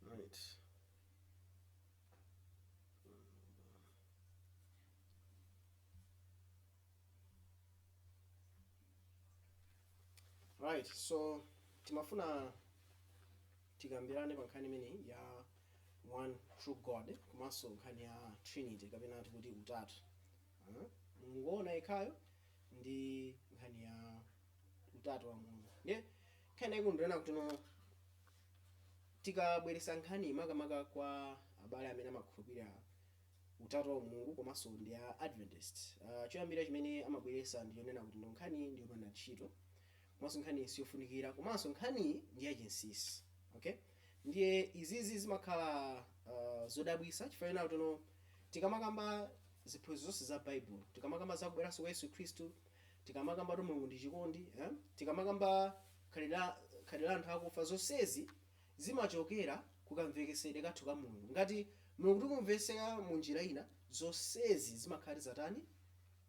Right. right so timafuna tikambirane pa nkhani imeneyi ya one true god komanso nkhani ya trinity kapena tikuti utatu Ah, mulungu woona yekhayo ndi nkhani ya utatu wa mulungu ndiye nkhani yaikulu ndi yonena kuti no Tikabweresa nkhaniyi makamaka kwa abale amene amakhulupirira utatu wa umulungu komanso ndi a Adventist, choyambirira chimene amabweresa ndi chonena kuti no nkhaniyi ndi yopanda ntchito komanso nkhaniyi siyofunikira komanso nkhaniyi ndi ya chinsisi. Okay? Ndiye izizi zimakhala zodabwisa chifukwa chonena kuti no tikamakamba ziphunzitso zonse za Baibulo, tikamakamba za kubweranso kwa Yesu Khristu, tikamakamba kuti mulungu ndi chikondi eh? tikamakamba khalidwe la- khalidwe la anthu akufa zonsezi zimachokera kukamvekesedwe kathu ka mulungu ngati mulungu tikumvesera mu njira ina zonsezi zimakhala kuti zatani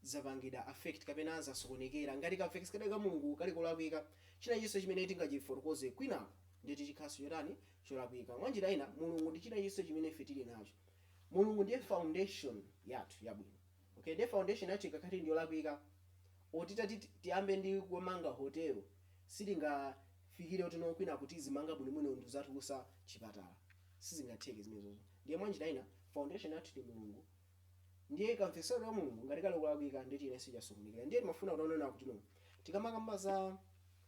zapangidwa affect kapena zasokonekera ngati kamvekesedwe ka mulungu kali kolakwika china chonse chimene tingachifotokoze kwinako nde kuti chikhalanso chotani cholakwika mwa njira ina mulungu ndi china chonse chimene ife tili nacho mulungu ndiye foundation yathu yabwino Okay, nde foundation yathu ikakhala ndi yolakwika or titati tiyambe ndi kumanga hotel sitingafikire kuti no kwinaku tizimanga bwino bwino ndi kuzatulusa chipatala sizingatheke zimenezozo ndiye mwanjira ina foundation yathu ndi mulungu ndiye kamvekesedwe ka mulungu ngati kali kolakwika ndiye kuti zonse zasokonekera ndiye timafuna kuti tione kuti no tikamakamba za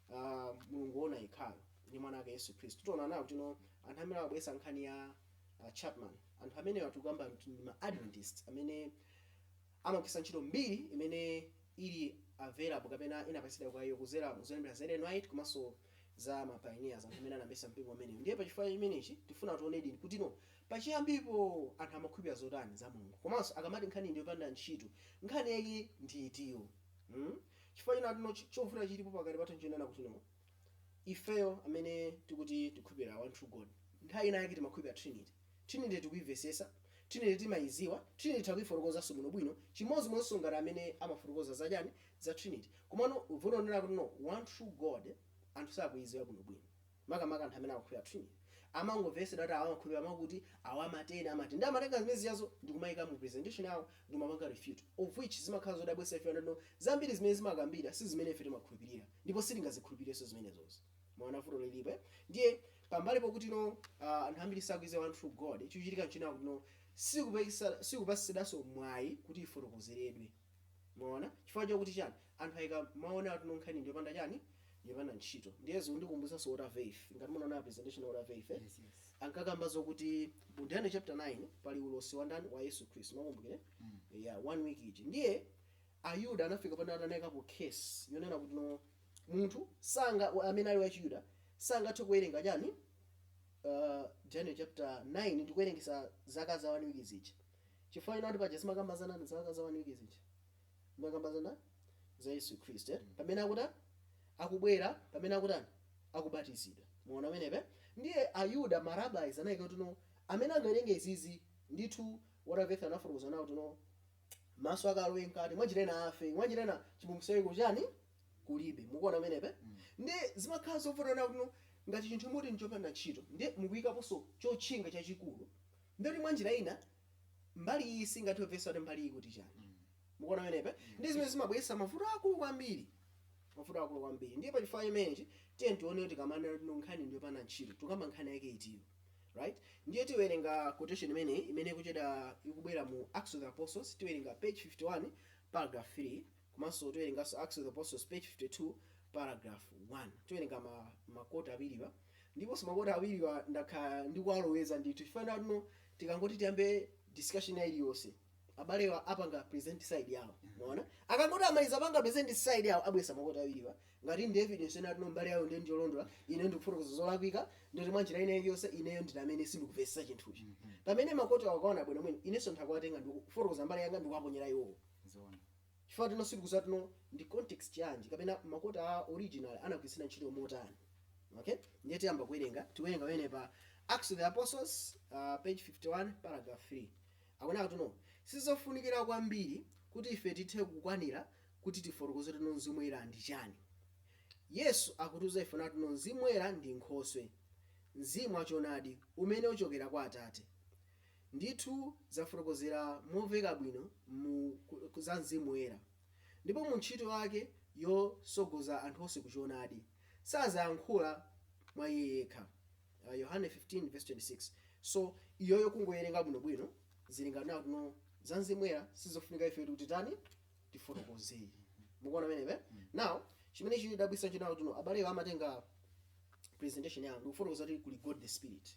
uh, mulungu wona yekhayo ndi mwana wake yesu khristu tiona nawo kuti no anthu amene abweresa nkhani ya a Chapman. Anthu amenewa tikukamba kuti ndi ma Adventist amene amagwiritsa ntchito mbiri imene ili available kapena inapatsidwa kwa iwo kudzera mu zolemba za Ellen White komanso za ma pioneers anthu amene anayambitsa mpingo umenewu. Ndiye pa chifukwa chimenechi tifuna tionedi kuti no pachiyambipo anthu amakhulupirira zotani za Mulungu komanso akamati nkhani ndi yopanda ntchito nkhani yake ndi itiyo. Hmm? Chifukwa chonena kuti no chovuta chilipo pakati pathu nchonena kuti no ifeyo amene tikuti tikukhulupirira one true God nthawi ina yake tinkakhulupirira trinity trinity tikuimvesesa trinity timaiziwa trinity titha kuifotokozanso bwinobwino chimodzimodzinso ngati amene amafotokoza za chani za trinity komano vuto ndi lakuti no one true god anthu sakuiziwa bwinobwino makamaka anthu amene amakhulupirira trinity amangomvetsera kuti awa amakhulupirira mwakuti, awa amati, ena amati. Ndiye amatenga zimene zijazo ndi kumaika mu presentation yawo ndi kumapanga refute, of which zimakhala zodabwitsa chifukwa choti no zambiri zimene zimakambidwa si zimene ife timakhulupirira ndipo sitingazikhulupirirenso zimenezozo. Mwaona vuto lilipo eh? Ndiye pambali pokuti no ah, anthu ambiri sakuidziwa one true God, chikuchitika nchonena kuti no sikupatsidwanso mwayi kuti ifotokozeredwe. Mwaona? Chifukwa chakuti chani? anthu ayika mawu onena kuti no nkhani ndiyopanda chani ndiyopanda ntchito ndiye zikundikumbutsanso Walter Veith ngati munaona presentation ya Walter Veith eh? Yes, yes. ankakamba zokuti mu daniel chapter 9 pali ulosi wa ndani wa yesu khristu mwakumbukira mm. yeah, one week ija ndiye ayuda anafika pano ataikapo curse yonena kuti no munthu sanga wa- amene ali wachiyuda sangathe kuwerenga chani uh, daniel chapter 9 ndikuwerengesa zaka za one week zija chifukwa chonena kuti paja zimakamba za ndani zaka za one week zija Zimakamba za ndani za Yesu Khristu eti. Pamene akutani akubwera, pamene akutani, akubatizidwa. Mwaona pamenepe? Ndiye Ayuda, ma rabbis anaika kuti no, amene angawerenge izizi, ndithu Walter Veith anafotokoza kunena kuti no, maso ake alowe mkati, mwanjira ina afe, mwanjira ina chipulumutso chake kuchani, kulibe. Mukuona pamenepe? Ndiye zimakhala zovuta kunena kuti no, ngati chinthu muti n'chopanda ntchito, ndiye mukuikaponso chotchinga chachikulu, ndiye kuti mwanjira ina, mbali iyi singathe kumvetsa kuti mbali iyi kuti chani mukuona penepe ndi zimene zimabweretsa mavuto akulu kwambiri mavuto akulu kwambiri ndiye pa chifukwa chimenechi tiye tione kuti tikamanena kuti nkhani ndiyopanda ntchito tukamba nkhani yake itiyo right ndiye tiwerenga quotation imene imene kucheda ikubwera mu acts of the apostles tiwerenga page 51 paragraph 3 Komanso tiwerenganso Acts of the Apostles page 52 paragraph 1. Tiwerenga ma, ma quote awiriwa. Ndiponso ma quote awiriwa ndakhala ndikuwaloweza ndithu chifukwa chonena kuti no tikangoti tiyambe discussion ina iliyonse abalewa apanga present side yawo mwaona akangoti amaliza panga present side yawo abweretsa ma quote awiriwa ngati ndi evidence yonena kuti no mbali yawo ndiye njolondola ine ndikufotokoza zolakwika ndiye kuti mwa njira ina iliyonse ineyo ndine amene sindikumvetsa chinthuchi pamene ma quote awo ukaona bwino bwino inenso ndikuwatenga ndikufotokoza mbali yanga ndikuwaponyera iwowo zoona chifukwa choti no sitikuziwa kuti no ndi context yanji kapena ma quote a original anagwiritsira ntchito motani okay ndiye tiyamba kuwerenga tiwerenga pamene pa acts of the apostles uh, page 51 paragraph 3 akunena kuti no sizofunikira kwambiri kuti ife tithe kukwanira kuti tifotokoze kuti no mzimu woyera ndi chani yesu akutiuza ife kunena kuti no mzimu woyera ndi nkhoswe mzimu wachonadi umene uchokera kwa atate ndithu zafotokozedwa momveka bwino za Mzimu Woyera ndipo mu ntchito yake yotsogoza anthu onse ku choonadi. Sazayankhula mwa iye yekha. Yohane 15 vesi 26 so iyoyo kungoiwerenga bwino bwino zili ngati kunena kuti no za Mzimu Woyera sizofunika ife kuti titani tifotokoze. Mukuona pamenepe? Now chimene chikudabwitsa n'chonena kuti no abalewa amatenga presentation yawo ndikufotokoza kuti kuli God the Spirit.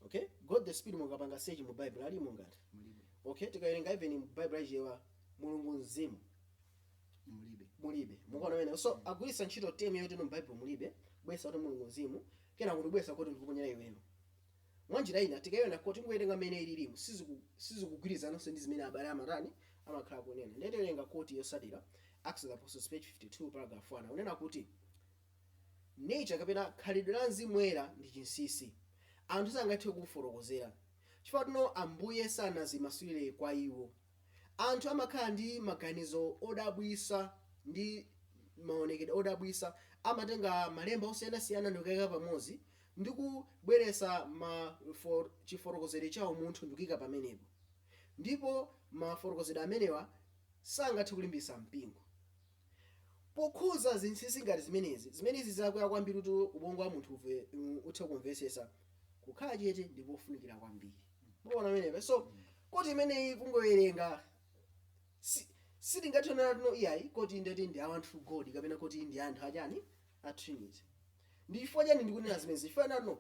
okay god the spirit mukapanga search mu bible alimo ngati mulibe okay tikawerenga even mu bible achichewa mulungu mzimu mulibe mulibe mukuona pamenepa so agwiritsa ntchito temu yoti mu bible mulibe bwesa kuti mulungu mzimu kena kuti bwesa kuti ndikuponyera iweyo mwanjira ina tikaiona kuti tingowerenga mmene ililimu siziku- sizikugwirizananso ndi zimene abale amatani amakhala akunena nde tiwerenga koti yotsatira acts of the apostles page 52 paragraph 1 akunena kuti Nature kapena khalidwe la Mzimu Woyera ndi chinsinsi. Anthu sangathe kuufotokozera. Chifukwa tino Ambuye sanazimasulire kwa iwo. Anthu amakhala ndi maganizo odabwitsa ndi maonekedwe odabwitsa. Amatenga malemba osiyanasiyana ndikuwaika pamodzi ndi kubweretsa ma chifotokozedwe cha umunthu ndikuika pamenepo. Ndipo mafotokozedwe amenewa sangathe kulimbitsa mpingo. Pokhudza zinsinsi ngati zimenezi, zimene zili zakuya kwambiri kuti ubongo wa munthu uve, um, uthe kumvetsetsa, kukhala chete ndi kofunikira kwambiri. Mukuona pamenepa? So, koti imeneyi kungowerenga si sitingathe kunena kuti no iyayi koti ndeti ndi a One True God kapena koti ndi anthu achani a Trinity. Ndi chifukwa chani ndikunena zimenezi? Chifukwa tino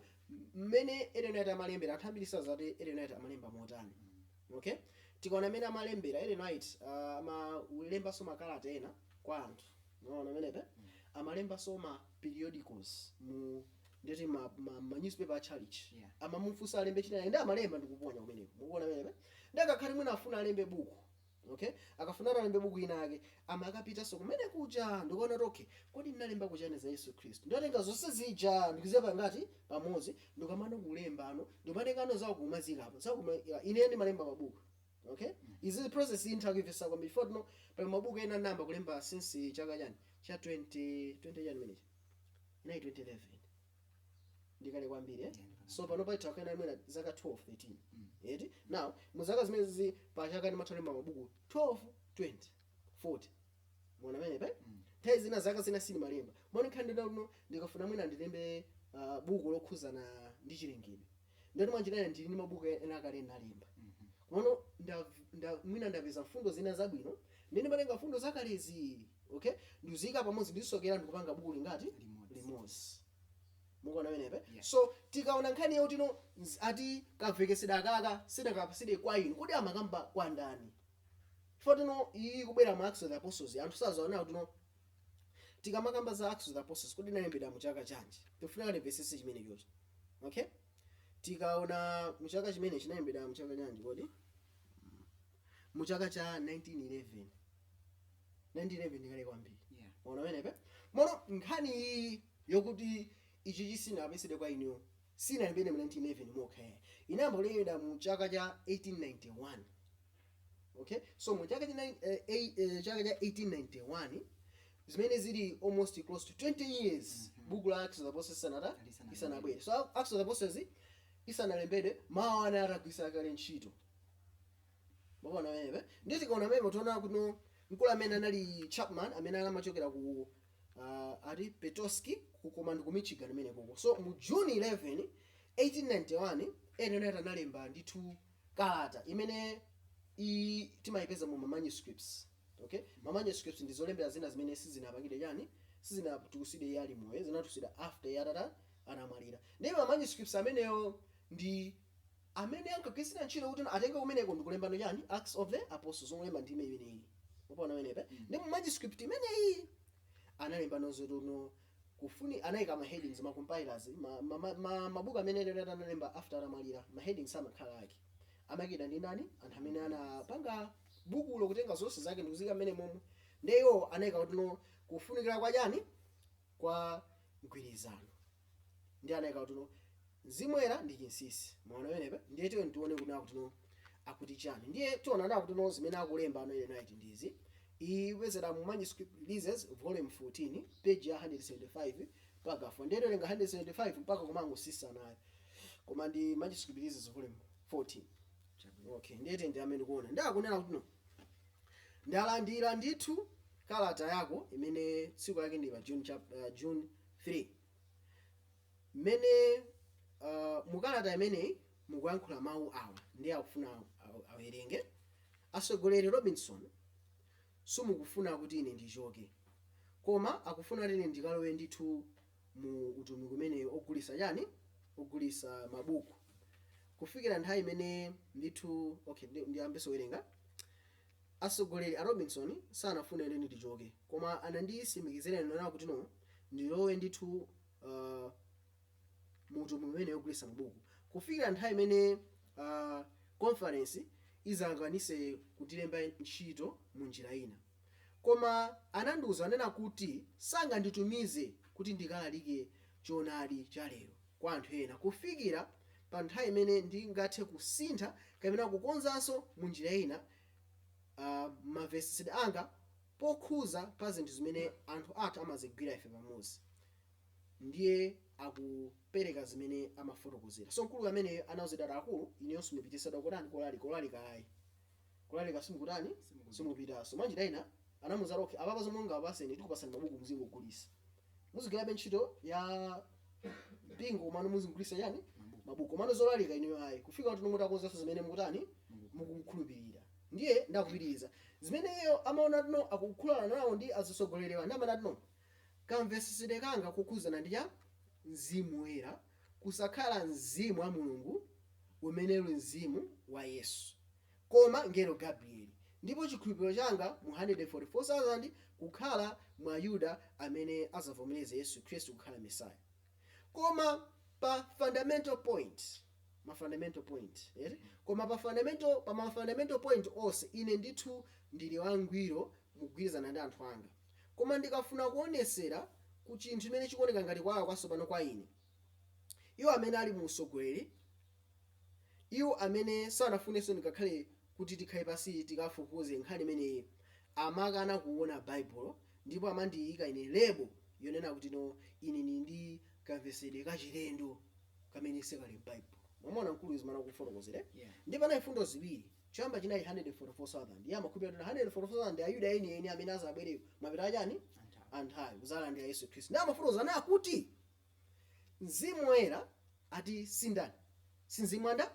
mmene Ellen White amalembera anthu ambiri sadziwa kuti Ellen White amalemba motani. Okay? Tikaona mmene amalembera Ellen White ah, amalembanso makalata ena kwa anthu. Mukuona pamenepa? Amalembanso ma periodicals mu ndeti ma, ma, ma newspaper a church Yeah. amamufunsa alembe china nde amalemba ndikuponya kumeneko mukuona pamenepa nde akakhala kuti mwina afuna alembe buku Okay? Akafuna kuti alembe buku inayake, amakapitanso kumene kuja ndikuona kuti okay, kodi ndinalemba kuti chani za Yesu Khristu? Ndinatenga zonse zija ndikuziyika ngati pamodzi ndikamano kulemba ano, ndikumatengano zawo kumaziika apa. Zawo kuma ya, ine ndimalemba mabuku. Okay? Izi ndi process iyi nditha kuyimvetsa kwambiri. Chifukwa tino pali mabuku ena ndinayamba kulemba since chaka chani cha 20 20 chani chimenechi. Inali 2011. ndikale kwambiri eh? so pano patha kukhala mwina zaka 12 13 eti now mu zaka zimenezi pa chaka ndimatha kulemba mabuku 12 20 40 mukuona pamenepa nthawi zina zaka zina sindimalemba mukuona nkhani ndinaluno ndikafuna mwina ndilembe ah, buku lokhudzana ndi chilengedwe ndeti mwa njira ina ndili ndi mabuku ena akale ndinalemba komano nda- nda- mwina ndapeza mfundo zina zabwino nde ndimatenga mfundo zakalezi okay ndiziyika pamodzi ndizisokera ndikupanga buku lingati Limodzi. limodzi mukuona pamenepa Yeah. so tikaona nkhani yakuti no ati kamvekesedwe kakeka sidakapatsidwe kwa inu kodi amakamba kwa ndani chifukwa tino iyi kubwera mu acts of the apostles anthu sazaona kuti no tikamakamba za Acts of the Apostles kodi inalembedwa mu chaka chanji tifunika tipesese chimene chocho okay tikaona mu chaka chimene chinalembedwa mu chaka chanji kodi mu chaka cha 1911 1911 ndikale kwambiri Yeah. mwaona pamenepa mono nkhani iyi yokuti ichi chisinapezedwe kwa inuyo sinalembedwa mu 1911 mokha yayi inayamba kulembedwa mu chaka cha 1891 okay so mu chaka cha nine- eh, ei- eh, chaka cha 1891 zimene zili almost close to 20 years buku la acts of the apostles isanata Lisanabwere. isanabwere so acts of the apostles isanalembedwe mawu awa atagwiritsa kale ntchito mwaona pamenepa nde tikaona pamenepa tiona kuti no mkulu amene anali chapman amene anamachokera ku uh, ati petoskey ku komweko ku michigan imeneyo uko so mu june 11 1891 ellen white analemba ndithu kalata imene i timayipeza mu ma manuscripts okay ma manuscripts ndi zolembera zina zimene sizinapangidwe chani sizinatulusidwe iye ali moyo zinatulusidwa after iye atata anamwalira ndi ma manuscripts amenewo ndi amene ankagwiritsira ntchito kuti atenge kumeneko ndi kulembano chani acts of the apostles olemba ndime imeneyi mwaona pamenepa nde mu manuscript imeneyi analemba zoti no Kufuni anaika ma headings ma compilers ma ma ma ma mabuku amene ellen white analemba after anamwalira ma headings amakhala ake amaikidwa ndi ndani anthu amene anapanga bukulo kutenga zonse zake ndikuziika mmenemomo nde iwo anaika kuti no kufunikira kwa chani kwa mgwirizano nde anaika kuti no Mzimu Woyera ndi chinsinsi. Mwaona pamenepa? Ndiye tiyeni tiwone kuti akutino, akuti chiyani. Ndiye tiona kutino zimene akulemba ano Ellen White ndi izi. Iyi ikupezeka mu Manuscript Releases, Volume 14, page ya 175, paragraph 1. Ndiye tiwerenga 175 mpaka kumangotsika nayo. Koma ndi Manuscript Releases, Volume 14. Chabwino. Okay, ndiye tiyeni tiyambe ndikuona. Ndiye akunena kutino, ndalandira ndithu kalata yako imene tsiku lake ndi June, chap, uh, June 3 Imene uh, mukalata imeneyi mukuyankhula mawu awa ndiye akufuna awerenge. Asogoleri Robinson, sakufuna kuti ine ndichoke, koma akufuna kuti ine ndikalowe ndithu mu utumiki umene ogulisa chani, ogulisa mabuku kufikira nthawi imene ndithu. Okay, ndiyambeso kuwerenga. Asogoleri a Robinson sanafune kuti ndichoke, koma anandisimikizira ine kuti no ndilowe ndithu uh, mu utumiki umene wogulitsa mabuku kufikira nthawi imene uh, conference izakwanise kundilemba ntchito mu njira ina koma anandiuza anena kuti sanganditumize kuti ndikalalike choonadi cha lero kwa anthu ena kufikira pa nthawi imene ndingathe kusintha kapena kukonzanso mu njira ina uh, mamvesedwe anga pokhuza pa zinthu zimene anthu athu amazigwira ife pamodzi ndiye akupereka zimene amafotokozera so mkulu ameneyo anauzidwa ati akulu inuyo simupitaso kotani kolalika kolalika ayi kulalika simukutani simupitaso mwanjira ina anamuza ati okay apapa zomwe tingakupaseni tikupasani mabuku muzingogulisa muzigwirabe ntchito ya mpingo komano muzigulisa chani mabuku komano zolalika inuyo ayi kufika kuti no mutakonzaso zimene mukutani mukukhulupirira Ndiye ndakupitiliza. Zimene iyeyo amaona kuti no akukhulana nawo ndi azisogoleriwa nde amanati no kamvesesedwe kanga kokhuzana ndi cha Mzimu Woyera kusakhala Mzimu wa Mulungu umene uli Mzimu wa Yesu koma mngelo Gabrieli ndipo chikhulupiliro changa mu 144,000 kukhala mwa Ayuda amene azavomeleze Yesu Khristu kukhala Messiah. Koma pa fundamental point, ma fundamental point, eti? Koma pa fundamental, pa ma fundamental point onse, ine ndithu ndili wangwiro mukugwirizana ndi anthu anga. Koma ndikafuna kuonetsera ku chinthu chimene chikuoneka ngati kuwala kwatsopano kwa ine, iwo amene ali mu utsogoleri, Iwo amene sanafunenso ngakhale kuti tikhale pansi tikafufuze nkhani imeneyi amakana kuona Baibulo ndipo amandiika ine lebo yonena kuti, no, ine ndiri ndi kamvetsedwe kachilendo kamene sikali m'Baibulo. Mwamuona, mkuluyu, zimene akufotokozera? Eya. Ndiye panali mfundo ziwiri. Choyamba chinali 144,000. Iye amakhulupirira kuti 144,000 ndi Ayuda enieni amene adzabwere mapeto a chani? a nthawi, kudzalandira Yesu Khristu. Ndiye amafotokoza nakuti. mzimu woyera ati si ndani si mzimu wa ndani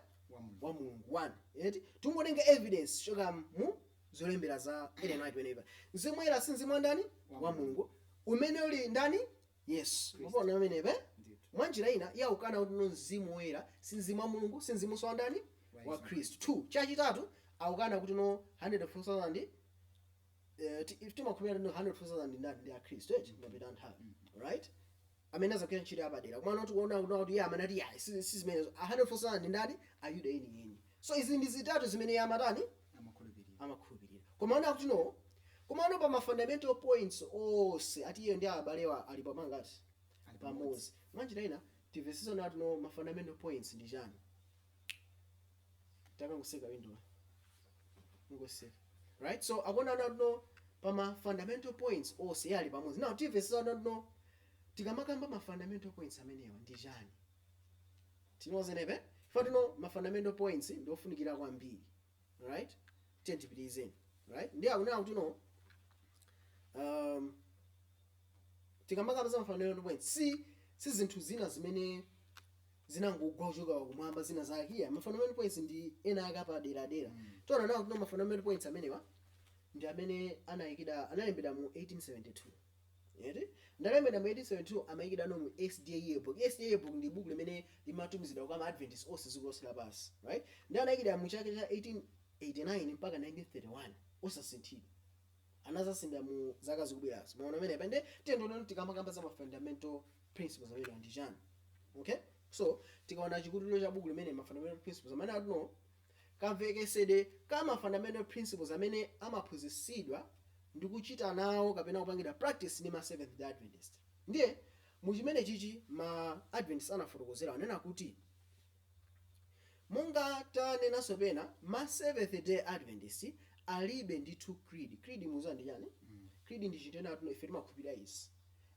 wa mulungu one eti tungotenga evidence kuchoka mu zolembera za ellen white whenever mzimu woyera si mzimu wa ndani wa mulungu umene uli ndani yesu mukuona pamenepa mwa njira ina iye akukana kuti no mzimu woyera si mzimu wa mulungu si mzimunso wa ndani wa khristu two chachitatu akukana kuti no 144,000 eh, ti- ife timakhulupirira no 144,000 ndi ndani ndi akhristu eti mapeto a nthawi right amene azagwira ntchito yapadera komano tikuona kuona kuti iye amanati yayi si si zimenezo 144,000 ndi ndani ayuda eni eni so izi ndi zitatu zimene iye amatani amakhulupirira amakhulupirira koma ona kuti no komano pa ma fundamental points onse ati iye ndi abalewa ali pamangati Ali pamodzi mwanjira ina timvesisane kuti no ma fundamental points ndi chani takangoseka window ngoseka right so akunena ati no pa ma fundamental points onse iye ali pamodzi now timvese ati no tikamakamba ma fundamental points amenewa ndi chani tinozenebe ife ati no ma fundamental points ndi ofunikira kwambiri right tiye tipitirize right ndiye akunena kuti no um, tikamakamba za mafundamental points si zinthu zina zimene zinangogwa kuchoka kumwamba zina zake iya mafundamental points ndi ena ake apaderadera tiona nawo kuti mafundamental points amenewa ndi amene anayikidwa analembedwa mu 1872 Eti? Analembedwa mu 1872 amayikidwa no mu SDA Yearbook. SDA Yearbook ndi buku limene limatumizidwa kwa ma Adventist onse dziko lonse lapansi. Right? Ndi anayikidwa mu chaka cha 1889 mpaka 1931. Osasinthidwa. Anazasinda mu zaka zikubwerazi. Mwaona mene pende tendona ndi kamakamba za ma fundamental principles amene ndi chani. Okay? So, tikaona chikutiro cha buku limene ma fundamental principles amene atuno kamvekesedwe ka ma fundamental principles amene amaphunzisidwa ndi kuchita nawo kapena kupangidwa practice ndi ma Seventh Day Adventist. Ndiye, mu chimenechichi ma Adventist anafotokozera anena kuti, monga tanenanso pena, ma Seventh Day Adventist alibe ndithu creed. Creed mukuziwa ndi chani? Creed ndi chinthu chonena kuti no ife timakhulupirira izi.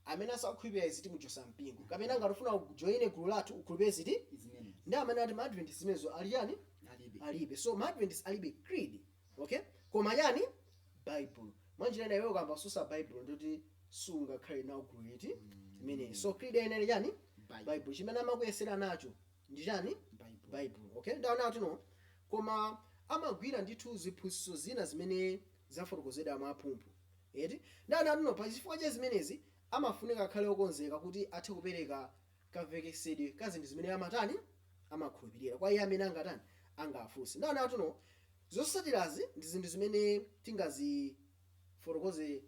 amene asakukhulupirira izi timuchosa mpingo kapena ngati ufuna ujoine gulu lathu ukhulupirire ziti Zimene. ndi amene ati ma adventist zimenezo ali chani Alibe. alibe so ma adventist alibe creed okay koma chani bible mwanjira ina iwe ukamasusa bible ndiye kuti sungakhale nawo gulu liti imeneyi so creed yeniyeni chani Bible. bible chimene amakuyesera nacho ndi chani Bible. bible okay ndaona kuti no koma amagwira ndithu ziphunzitso zina zimene zafotokozedwa mwa mphumphu Eti? Nde anati no pa chifukwa cha zimenezi amafunika akhale okonzeka kuti athe kupereka kamvekesedwe ka zinthu zimene amatani, amakhulupirira kwa iye amene angatani, angafunse. Nde anati no zosatirazi ndi zinthu zimene tingazifotokoze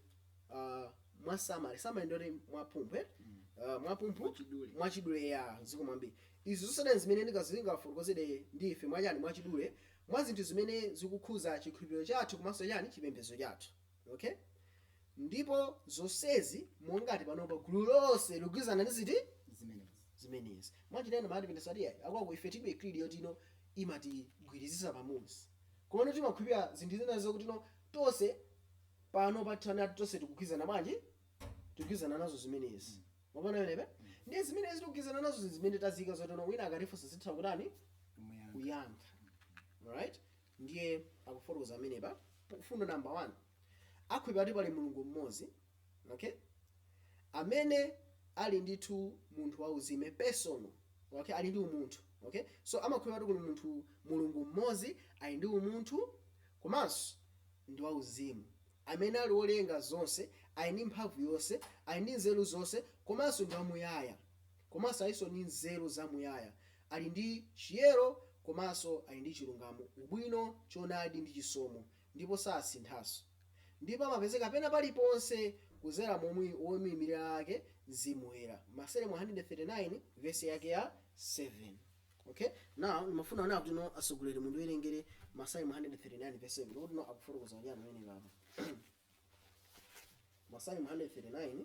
ah mwa summary, summary ndiyoti mwa mphumphu eti? ah mwa mphumphu, Mwachidule. mwachidule eya zikomo kwambiri. Izi zosatira ndi zimene ndinga zingafotokozedwe ndi ife mwachani, mwachidule mwa zinthu zimene zikukhuza chikhulupiriro chathu komanso chani, chipembedzo chathu. Ok? Ndipo zonsezi mongati panopa gulu lonse likugwirizana ndi ziti? Zimenezi. Zimenezi. Mwachitenda ma Adventist ati ayi, aku aku ife tilibe creed yoti no imatigwirizisa pamodzi. Komano timakhulupirira zinthu zina zokuti no tonse pano pathana tonse tikugwirizana bwanji? Tikugwirizana nazo zimenezi. Mwaona pamenepo? Ndiye zimenezi tikugwirizana nazo zinthu zimene tazika zoti no wina akatifunsa titha kutani? Kumuyamba. Kuyankha. Alright? ndiye akufotokoza pamenepa mfundo number one akhulupirira kuti pali mulungu mmodzi okay amene ali ndithu munthu wauzimu personal okay ali ndi umunthu okay so amakhulupirira kuti kuli munthu mulungu mmodzi ali ndi umunthu komanso ndi wauzimu amene ali wolenga zonse ali ndi mphamvu yonse ali ndi nzeru zonse komanso ndi wamuyaya komanso alinso ndi nzeru zamuyaya Ali ndi chiyero komanso ali ndi chilungamo, ubwino, choonadi ndi chisomo ndipo sasinthanso. Ndipo amapezeka pena paliponse kuzera mu womuimilira ake Mzimu Woyera. Masalimo 139 vesi yake ya 7. Ok now ndimafuna onani kuti no atsogoleri mundiwerengere Masalimo 139 vesi 7 kuti no akufotokoza chani pamenepapa Masalimo 139.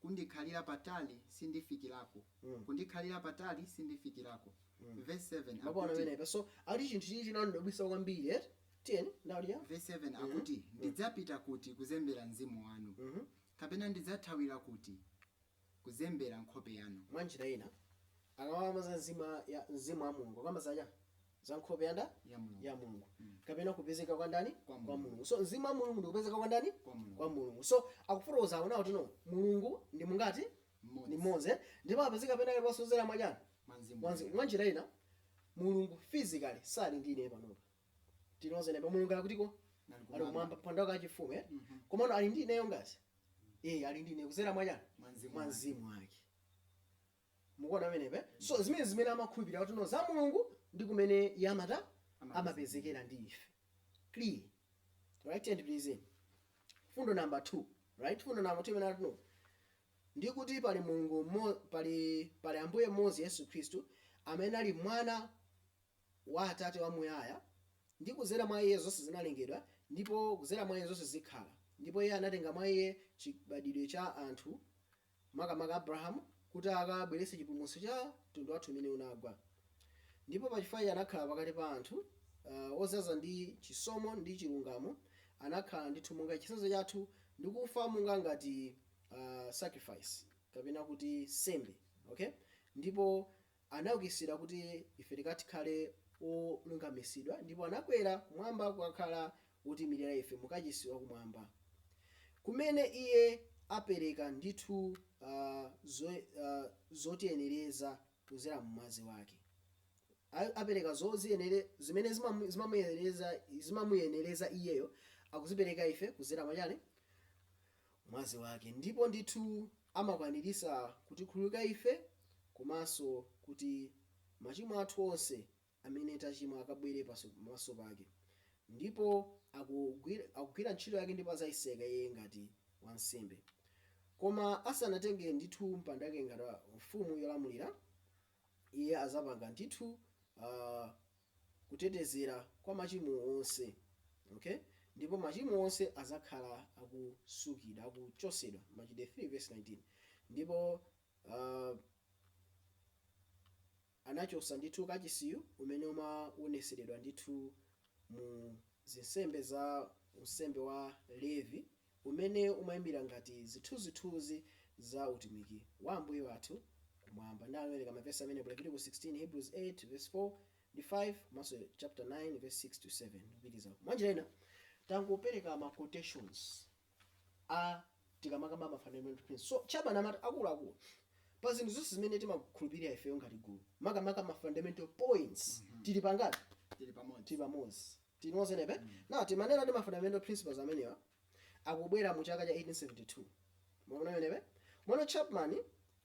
kundikhalira patali sindifikirako Mm. kundikhalira patali sindifikirako Mm. verse 7 Mwapaona pameneka. So ali chinthu china chinandidabwitsa kwambiri eh? Tiyeni ndali ya. verse 7 akuti ndidzapita kuti kuzembera mzimu wanu Mhm. kapena ndidzathawira kuti kuzembera nkhope yanu Mwa njira ina akamakamba za mzimu ya mzimu wa Mulungu kamba zaja. za nkhope ya ndani ya mulungu, ya mulungu. Mm. kapena kupezeka kwa ndani kwa mulungu. mulungu so mzimu wa mulungu ndikupezeka kwa ndani kwa mulungu, kwa mulungu. so akufotokoza aona kuti no mulungu ndi mungati ndi mmodzi eh? ndipo apezeka pena paliponse kuzera mwachani mwanjira ina mulungu physically sali ndi ine panopa tinozindikira Mulungu ali kutiko ali kumwamba pampando wake wachifumu eh? mm -hmm. komano ali ndi ineyo ngazi mm -hmm. eh ali ndi ine kuzera mwachani mwanzimu wake mukuona pamenepe so zimene zimene amakhulupirira kuti no za mulungu ndi mmene iye amata amapezekera ndi ife clear right and please mfundo number 2 right mfundo number 2 imene kuti no ndi kuti pali mulungu mmo- pali pali ambuye mmodzi yesu khristu amene ali mwana wa atate wamuyaya ndi kudzera mwa iye zonse zinalengedwa ndipo kudzera mwa iye zonse zikhala ndipo iye anatenga mwa iye chibadidwe cha anthu makamaka Abrahamu, kuti akabweretse chipulumutso cha mtundu wathu umene unagwa. Ndipo pachifukwa iye anakhala pakati pa anthu uh, ozaza ndi chisomo ndi chilungamo, anakhala ndithu monga chitsanzo chathu ndi kufa monga ngati uh, sacrifice kapena kuti nsembe okay? ndipo anaukitsidwa kuti ife tikati khale olungamitsidwa, ndipo anakwera kumwamba kukakhala Wotiimirira ife mu kachisi wa Kumwamba, kumene Iye apereka ndithu a, zo, a, zotiyenereza kudzera mu Mwazi Wake, a, apereka zoziyenere, zimene zimamu, zimamuyenereza, zimamuyenereza Iyeyo, akuzipereka ife kudzera mwa chiyani? Mwazi Wake. Ndipo ndithu Amakwanilisa kutikhululukira ife komanso kuti machimo athu onse amene tachimwa akabwele pamaso pake. Ndipo akugwila ntchito yake ndipo azayitseka iye ngati wansembe. Koma asanatenge ndithu mpando wake ngati mfumu yolamulila, Iye adzapanga ndithu a, kutetezera kwa machimo onse, okay? ndipo machimo onse adzakhala akusukidwa, akuchotsedwa, Machitidwe 3 vesi 19, ndipo a, anachotsa ndithu kachisiyu umene umawonetseredwa ndithu mu zinsembe za unsembe wa Levi, umene umaimira ngati zithunzithunzi za utumiki wa Ambuye wathu kumwamba. Ndani anawerenga mavesi amenewo? Leviticus 16, Hebrews 8 vesi 4 ndi 5 komanso chapter 9 vesi 6 to 7 ndikupitiriza uko. Mwanjira ina tangopereka ma quotations a tikamakamba ma fundamental principles. So Chapman amati akuluakulu pa zinthu zonse zimene timakhulupirira ifeyo ngati gulu makamaka ma fundamental points tili pangati? Tili pamodzi. Tili pamodzi. Tili limodzi pamenepa. Now, timanena ndi ma fundamental principles amenewa akubwera mu chaka cha 1872. Mwaona pamenepa? Komano Chapman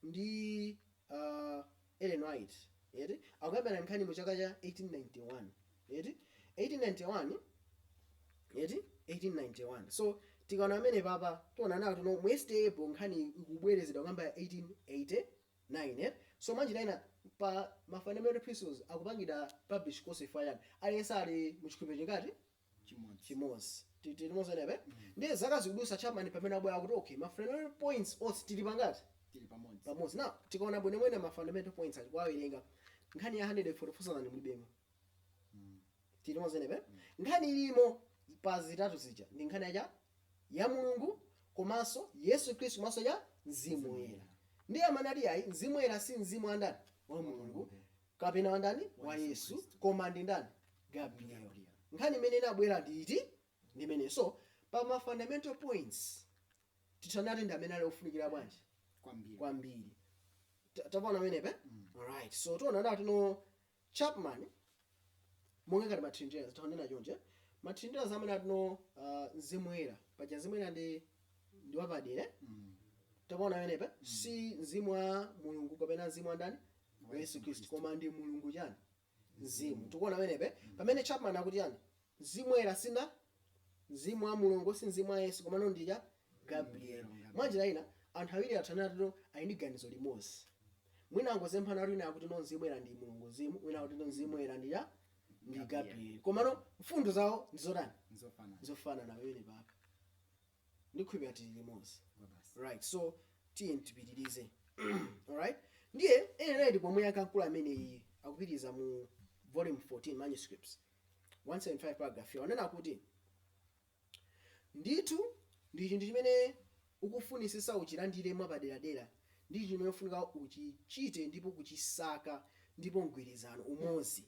ndi uh, Ellen White, eti, akukambirana nkhani mu chaka cha 1891. Eti? 1891 eti 1891 so tikaona pamenepapa tiona nawo kuti no mu SDA Yearbook nkhani ikubwerezedwa kuyamba 1880 9, So mwanjira ina pa ma fundamental principles akupangidwa publish konse chifukwa chani? Aliyense ali mu chikhulupiriro chingati? Chimodzi. Chimodzi. Tili limodzi pamenepa? Ndiye zaka zikudutsa Chapman pamene akubwera akuti okay ma fundamental points onse tili pangati? Tili pamodzi. Pamodzi. Now tikaona bwinobwino ma fundamental points aja kuwawerenga nkhani ya 144,000 mulibemo. tili limodzi pamenepa nkhani ilimo pa zitatu zija ndi nkhani ya cha ya mulungu komanso yesu khristu komanso cha mzimu woyera ndiye amanena kuti ayi mzimu woyera si mzimu wa ndani wa mulungu kapena wa ndani wa yesu koma ndi ndani gabriel nkhani imene inabwera ndi iti ndi imene so pa ma fundamental points titha kunena kuti ndi amene ali ofunikira bwanji kwambiri kwambiri Ta- tikuona pamenepa alright so tiona nati no Chapman, Monga ngati ma Trinitarians, titha kunena chonchi, eh? ma Trinitarians amene amati no uh, Mzimu Woyera, paja Mzimu Woyera ndi ndi wapadera. eh? Tikuona pamenepa si mzimu wa Mulungu kapena mzimu wa ndani? Wa Yesu Kristu, koma ndi Mulungu chani? Mzimu. Tikuona pamenepa pamene Chapman akuti chani? Mzimu Woyera si ma, Mzimu wa Mulungu, si Mzimu wa Yesu, komano ndi cha Gabrieli. Mwanjira ina, anthu awiri titha kunena kuti ali ndi ganizo limodzi. Mwina angozemphana kuti wina akuti no Mzimu Woyera ndi Mulungu Mzimu, wina akuti no Mzimu Woyera ndi cha ndi Gabrieli. Komano mfundo zawo ndi zotani? Nzofanana. Nzofanana pamenepapa. Ndikhulupirira tili limodzi. Kwabasi. Right, so tiyeni tipitirize. Alright? Ndiye Ellen White ndi pomwe akuyankhula amene iye akupitiriza mu volume 14 manuscripts. 175 paragraph, iwo anena kuti, Ndithu ndi chinthu chimene ukufunitsitsa uchilandire mwapaderadera ndi chinthu chimene ufunika uchichite ndipo kuchisaka ndi mgwirizano, umodzi.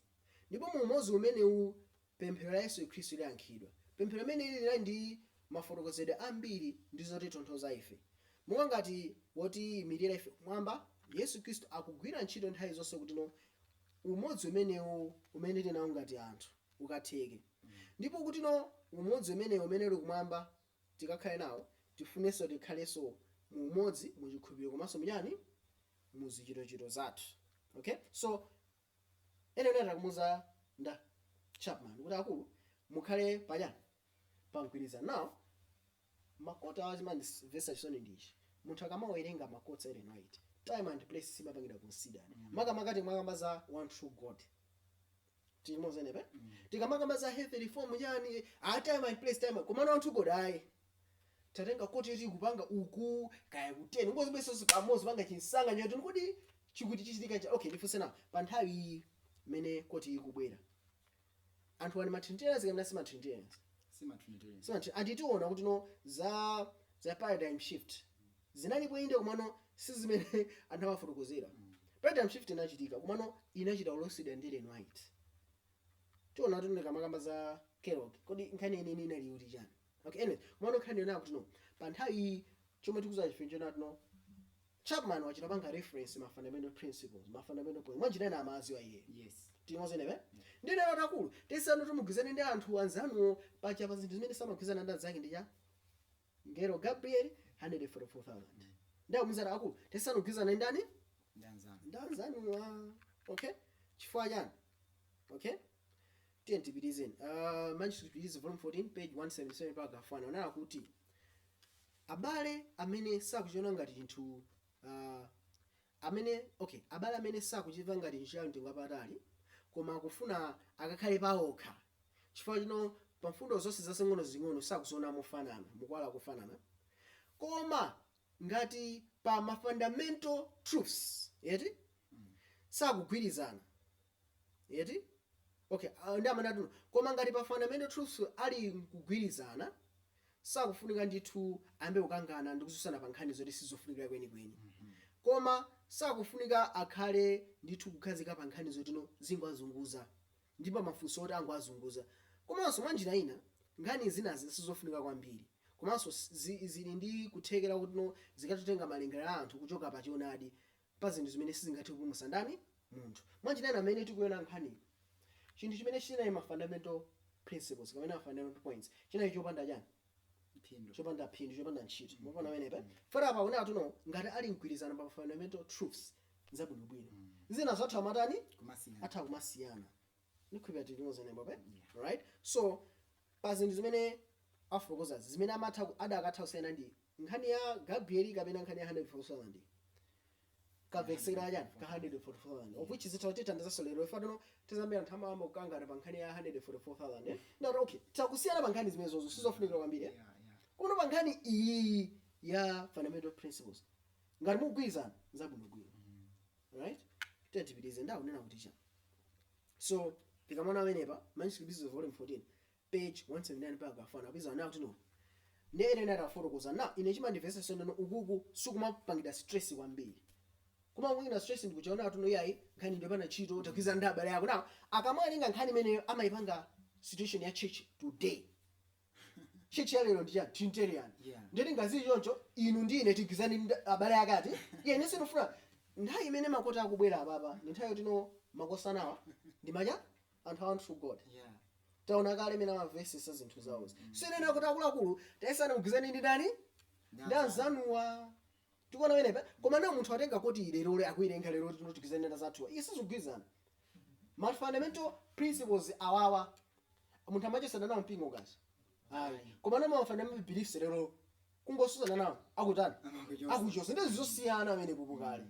Ndipo mu umodzi umenewu pemphero la Yesu Khristu liyankhidwa. Pemphero limeneli lili ndi mafotokozedwe ambiri ndi zotitonthoza ife. Monga ngati wotiyimirira ife kumwamba, Yesu Khristu akugwira ntchito nthawi zonse kuti no umodzi umenewo umene tili nawo ngati anthu ukatheke ndipo kuti no umodzi umenewo umene uli kumwamba tikakhale nawo tifunenso tikhalenso mu umodzi mu chikhulupiriro komanso muchani mu zichitochito zathu okay so anena akumuuza ndani Chapman kuti akulu mukhale pachani pamgwirizano nawo Ma quote awa chimandimvetsa chisoni ndi ichi munthu akamawerenga ma quotes a Ellen White time and place simapangidwa considered makamaka tikamakamba za one true God tili limodzi pamenepa tikamakamba za health reform chani a time and place time komano one true God ayi tatenga quote yoti kupanga uku kaya kuteni nkuzibweretsa pamodzi kupanga chinsanganizo kuti kodi chikuti chichitika cha okay ndifunse nawo pa nthawi iyi imene quote iyi ikubwera anthu ali matrinitarians kapena si matrinitarians si matrinitarian so anthu anditu tiona kuti no za za paradigm shift zinalipo inde komano si zimene anthu amafotokozera paradigm shift inachitika komano inachita kuloseredwa ndi Ellen White tiona kuti tikamakamba za Kellogg kodi nkhani yeniyeni inali yoti chani okay anyway komano nkhani yonena kuti no pa nthawi iyi chomwe tikuuza tchetchi nchoti no Chapman wachita kupanga reference ma fundamental principles, ma fundamental points. Mwanjira ina amawadziwa iye. Yes. Tili limodzi pamenepa? Ndiye atakulu. Yesani kuti mugwirizane ndi anthu anzanuwo pachani pa zinthu zimene samagwirizana ndi anzake ndi za mngelo Gabriel 144,000. Ndi akumuuza akulu. Yesani kugwirizana ndi ndani? Ndi anzanu. Ndi anzanuwa. Okay? Chifukwa chani? Okay? Tiye tipitizeni. Uh, Manuscript Release Volume 14 page 177 paragraph 1 anena kuti Abale amene sakuchiona ngati chinthu uh, amene okay, abale amene sakuchimva ngati chinthu cha mtengo wapatali, koma akufuna akakhale paokha chifukwa choti no pa mfundo zonse zazing'ono zing'ono sakuziona mofanana mu kuwala kofanana, koma ngati pa ma fundamental truths eti sakugwirizana eti okay ah, ndi amene anati no koma ngati pa fundamental truths ali nkugwirizana sakufunika ndithu ayambe kukangana ndi kutsutsana pa nkhani zoti sizofunikira kwenikweni koma sakufunika akhale ndithu kukhazikika pa nkhani zoti no zingwazunguza ndipo mafunso oti angwazunguza komanso mwa njira ina nkhani zinazi sizofunika kwambiri komanso zi- zili ndi kuthekera kuti no zikathe kutenga malingaliro a anthu kuchoka pa choonadi pa zinthu zimene sizingathe kupulumutsa ndani? Munthu. Mwa njira ina, pamene tikuiona nkhaniyi, chinthu chimene chinali ma fundamental principles kapena ma fundamental points chinali chopanda chani? Phindu. Chopanda phindu, chopanda ntchito. Mukuona pamenepa? Fora apa akunena kuti no ngati ali mgwirizano pa ma fundamental truths zabwinobwino. Zinazo atha kumatani? Kumasiyana. Atha kumasiyana. Ndikhulupirira tili limodzi pamenepo pe? Alright? So, Pa zinthu zimene afotokozazi, zimene amatha, adakatha kusiyana ndi nkhani ya Gabrieli kapena nkhani ya 144,000 kamvekesedwe ka chani ka 144,000 of which zitha kutithandizanso lero chifukwa nthawi zambiri anthu amayamba kukangana pa nkhani ya 144,000 eh? Ndeti okay titha kusiyana pa nkhani zimenezozo sizofunikira kwambiri eh? Kuno pa nkhani iyi ya fundamental principles ngati mukugwirizana zabwinobwino right tiye tipitirize nde akunena kuti chani So, tikamaona pamenepa, Manuscript Releases Volume 14, page 179 paragraph 1 apeza nawo tino. Nde ene nata kufotokoza na ine chimandimvetsa chisoni ukuku sikumapangidwa stress kwambiri. Kuma wina stress ndikuchaona kuti no iyayi nkhani ndi yopanda ntchito tagwirizana ndi abale ako. Now akamawerenga nkhani imeneyo amaipanga situation ya church today. church ya lero ndi chani trinitarian Yeah. ndeti ngati zili choncho inu ndi ine tigwirizane ndi abale akati iye ine sindifuna nthawi imene ma quote akubwera apapa ndi nthawi yoti no makosanawa ndi ma chani anthu a One True God Yeah. taona kale mmene amamvetsetsa zinthu zawozi sinena kuti akuluakulu tayesani mugwirizane ndi ndani ndi Ndani? anzanuwa tikuona pamenepa koma now munthu atenga quote iyi lero akuiwerenga lero kuti no tigwirizane ndi anzathuwa iyayi sizikugwirizana ma fundamental principles awawa munthu amachotsana nawo mpingo kazi ayi koma now ma fundamental beliefs lero kungotsutsana nawo akutani akuchotsa ndi zosiyana pamenepopo kale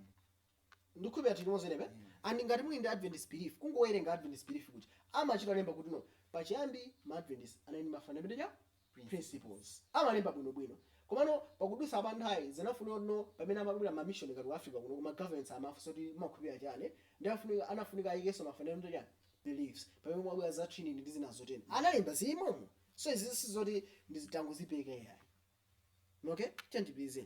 ndikhulupira tili limodzi pamenepo and ngati muli ndi adventist belief kungowerenga adventist belief kuti amachita kulemba kuti no pachiyambi ma adventist anali ndi ma fundamental principles. Amalemba bwino bwino. Komano pakudutsa pa nthawi zinafunika kuti no pamene amabwera ma mission ngati ku Africa kuno ma governments amafunsa kuti mumakhulupirira chani ndiye afunika anafunika ayikenso ma fundamental chani beliefs pamene kumabwera za Trinity ndi zina zotero. Analemba zili mommo. So izizi sizoti ndi zoti tangozipeka iyayi. Okay? Tiyeni tipitirize.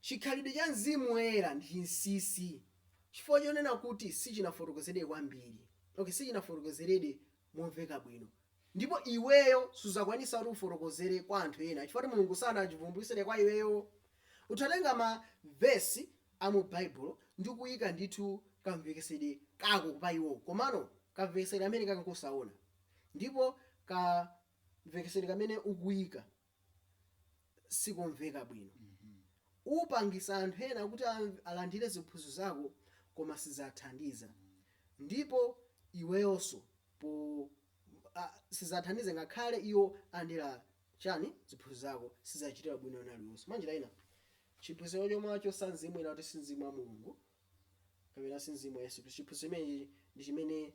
Chikhalidwe cha Mzimu Woyera ndi chinsinsi chifukwa chonena kuti sichinafotokozedwe kwambiri, ok, sichinafotokozeredwe momveka bwino, ndipo iweyo suzakwanisa kuti ufotokozere kwa anthu ena chifukwa kuti Mulungu sanachivumbulutsire kwa iweyo. Utha kutenga ma verse a mu Baibulo ndi kuyika ndithu kamvekesedwe kako pa iwowo, komano kamvekesedwe kameneka nkosaona ndipo kamvekesedwe kamene ukuyika sikomveka bwino. Upangisa anthu ena kuti alandire ziphunzitso zako koma sizathandiza ndipo iweyonso po a sizathandiza ngakhale iwo alandira chani ziphunzitso zako sizachitira ubwino wina uliwonse. Mwanjira ina chiphunzitso chomwachotsa mzimu kunena kuti si mzimu wa Mulungu kapena si mzimu wa Yesu Khristu chiphunzitso chimenechi ndi chimene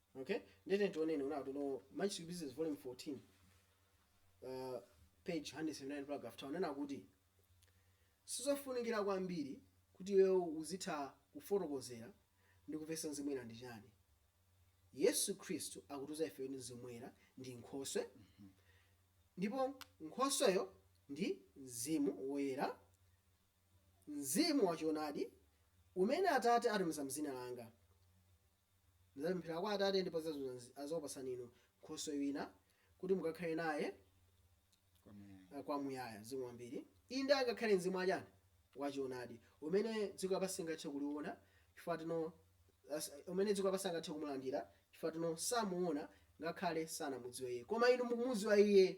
Okay? Ndiye tiyeni tioneni kunena kuti no Manuscript Releases Volume 14 uh, page 179 paragraph 2 anena kuti sizofunikira kwambiri kuti iweyo uzitha kufotokozera ndi kumvetsa mzimu woyera ndi chani yesu khristu akutiuza ife kuti mzimu woyera ndi nkhoswe ndipo nkhosweyo ndi mzimu woyera mzimu wachoonadi umene atate atumiza m'dzina langa Ndidzapemphera kwa Atate, ndipo adzakupatsani inu Nkhoswe wina, kuti mukakhale naye kwamuyaya. Zikomo kwambiri. Inde, angakhale Mzimu wa chani? Wa choonadi, umene dziko lapansi silingathe kuliona, chifukwa choti no, umene dziko lapansi sangathe kumulandira, chifukwa choti no, samuona, ngakhale sanamudziwe Iye. Koma inu mukumudziwa Iye,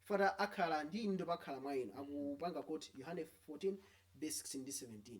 chifukwa choti akhala ndi inu ndipo akhala mwa inu, akupanga quote Yohane 14 vesi 16 ndi 17.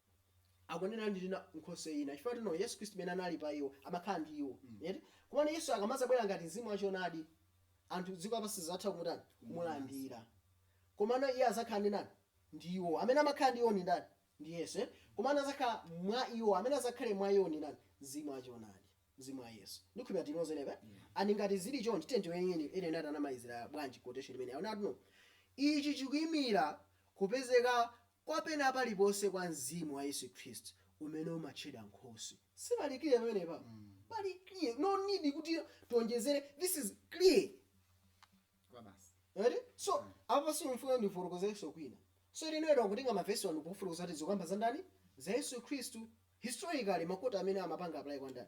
akunena ndi ina nkhoswe ina chifukwa choti no yesu khristu mene anali pa iwo amakhala ndi iwo eti komano yesu akamazabwera ngati mzimu wa choonadi anthu dziko lapansi sizatha kumutani kumulandira komano iye azakhala ndi ndani ndi iwo amene amakhala ndi iwo ndi ndani ndi yesu eh? komano azakhala mwa iwo amene azakhale mwa iwo ndi ndani mzimu wa choonadi mzimu wa yesu ndikhulupira tinozenebe and ngati zili chonchi tiyeni tione kunena kuti anamalizira bwanji quotation imene akunena kuti no ichi chikuimira kupezeka kwa pena paliponse kwa Mzimu wa Yesu Khristu, umene umatchedwa Nkhoswe. Sipali clear pamenepa? Pali clear? No need kuti tionjezere, this is clear kwabasi. Eti? So, apa simufuna ndifotokozerenso kwina. So, Ellen White akutenga ma verse wa ndikufotokoza kuti zikukamba za ndani? Za Yesu Khristu. Historically, ma quote amene amapanga apply kwa ndani?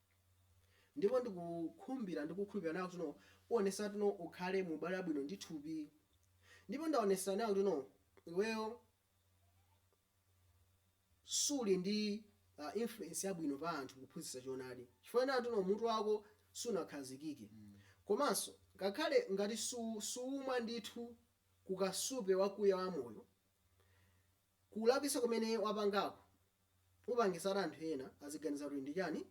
ndipo ndikukhumbira ndi kukhulupirira kunena kuti no uonetsetsa kuti no ukhale mu ubale wabwino ndi thupi ndipo ndaonetsedwa kunena kuti no iweyo suli ndi uh, influence yabwino pa anthu kuphunzitsa choonadi chifukwa chonena kuti no mutu wako sunakhazikike komanso ngakhale ngati su- suumwa ndithu kukasupe wakuya wa moyo Kulakwitsa kumene wapangako upangitsa anthu ena aziganiza kuti ndi chani?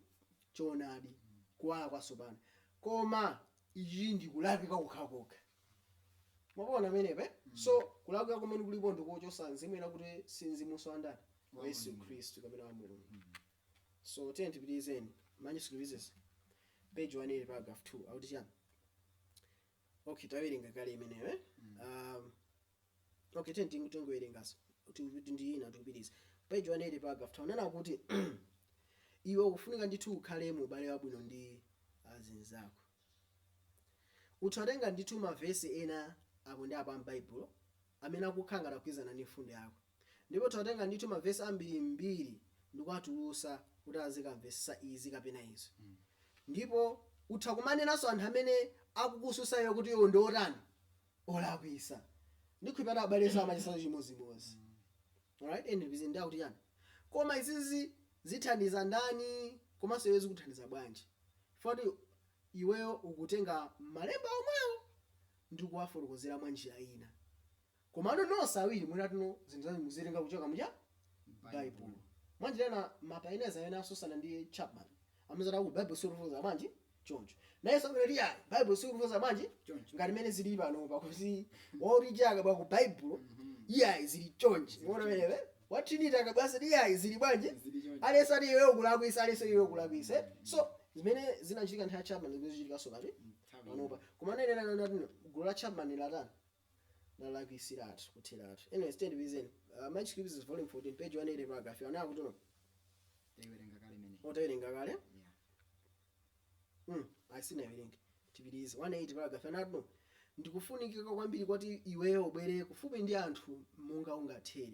Choonadi, kuwala kwatsopano. Koma ichichi ndi kulakwika kokhakokha. Mwapaona pamenepa eh? So, kulakwika komwe kulipo ndi kochotsa Mzimu ena kuti si Mzimunso wa ndani? Wa Yesu Khristu kapena wa Mulungu. So, tiyeni tipitirizeni. Manuscript Releases, page 180, paragraph 2, akuti chani? Okay, tawerenga kale imeneyo eh? Um, Ok, tiyeni tingu tingowerengaso kuti kuti ndi ina tikupitiriza. Page 180 paragraph 2 anena kuti iwe ukufunika ndithu ukhale mu ubale wabwino ndi azinzako. Utha kutenga ndithu mavesi ena apo ndi apo a m'Baibulo amene akukhala ngati akugwirizana ndi mfundo yako. Ndipo utha kutenga ndithu mavesi ambirimbiri ndi kuwatulusa kuti azikamvesesa izi kapena izo. Ndipo utha kumanenanso anthu amene akukususa iwe kuti iwo ndi otani. olakwisa ndikhulupirira kuti abale amachitanso chimodzimodzi alright and ndikuzinda kuti chani koma izizi zithandiza ndani komanso iwe zikuthandiza bwanji poti iweyo ukutenga malemba omwewo ndikuwafotokozera mwa njira ina komano nonse awiri munati no zinthu zanu muzitenga kuchoka muja baibulo mwanjira ina mapaineza amene asusana ndi chapman amazati aa baibulo silikufotokoza bwanji choncho. Nayenso abwera kuti ya Baibulo silifotokoza bwanji Choncho. ngati mmene zili panopa kuti wautija akabwera ku Baibulo iyayi zili chonchi. Mwaona pamenepo? Wa Trinity akabweranso kuti iyayi zili bwanji? Zili choncho. Aliyense ati iwe ukulakwisa, aliyense iwe ukulakwisa. eh? So zimene zinachitika nthawi ya Chapman zimene zikuchitikanso pati Nthawi panopa. Koma anayenera kuona kuti gulu la Chapman latani? lalakwisiratu kutheratu anyways tiye tipitirizeni uh, Manuscript Releases volume 14 page 180 paragraph yanayo kuti no taiwerenga kale mene otawerenga kale yeah. mm, asinawerenga tipitirize 180 paragraph anati no ndikufunikika kwambiri kuti iweyo ubwere kufupi ndi anthu monga ungathere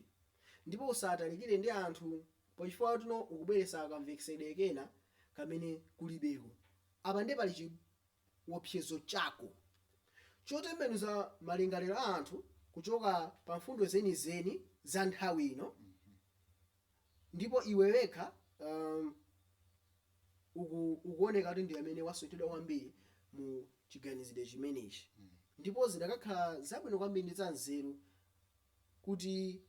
ndipo usatalikire ndi anthu pochifukwa choti no ukubweresa kamvetsedwe kena kamene kulibeko apa nde pali chi- wopsyezo chako chotembenuza malingaliro a anthu kuchoka pa mfundo zenizeni za nthawi ino, ndipo iwe wekha, um, uku, ukuwoneka kuti ndi amene wasocheretsedwa kwambiri mu chiganizidwe chimenechi. Ndipo zidakakhala zabwino kwambiri ndi zanzeru kuti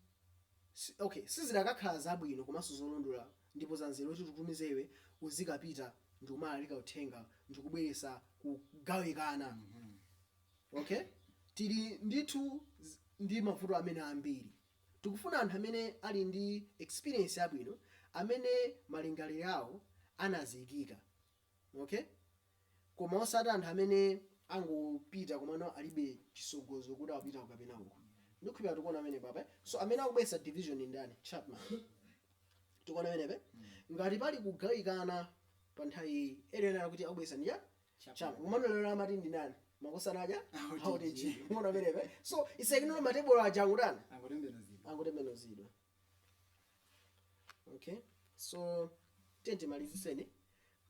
si, okay, sizidakakhala zabwino komanso zolondola ndipo zanzeru kuti tikutumize iwe uzikapita ndikumalalika uthenga ndikubweretsa kugawikana, okay, tili ndithu ndi mavuto amene ambiri, tikufuna anthu amene ali ndi experience yabwino, amene malingaliro awo anazikika. Ok? Koma osati anthu amene angopita komano alibe chisogozo kuti akupita uku kapena uku. Ndikhulupira tikuona pamene papa eh? So amene akubweretsa division ndi ndani? Chapman. Tikuona pamene pa? Ngati pali kugawikana pa nthawi iyi, area anali kuti akubweretsa ndi ndani? Chapman. Komano lero amati ndi ndani? Makosana aja? OTG. OTG. Muona pamene pa? So it's like no matebulo aja angotani? Angotembenuzidwa. Angotembenuzidwa. okay so tiyeni timalizitseni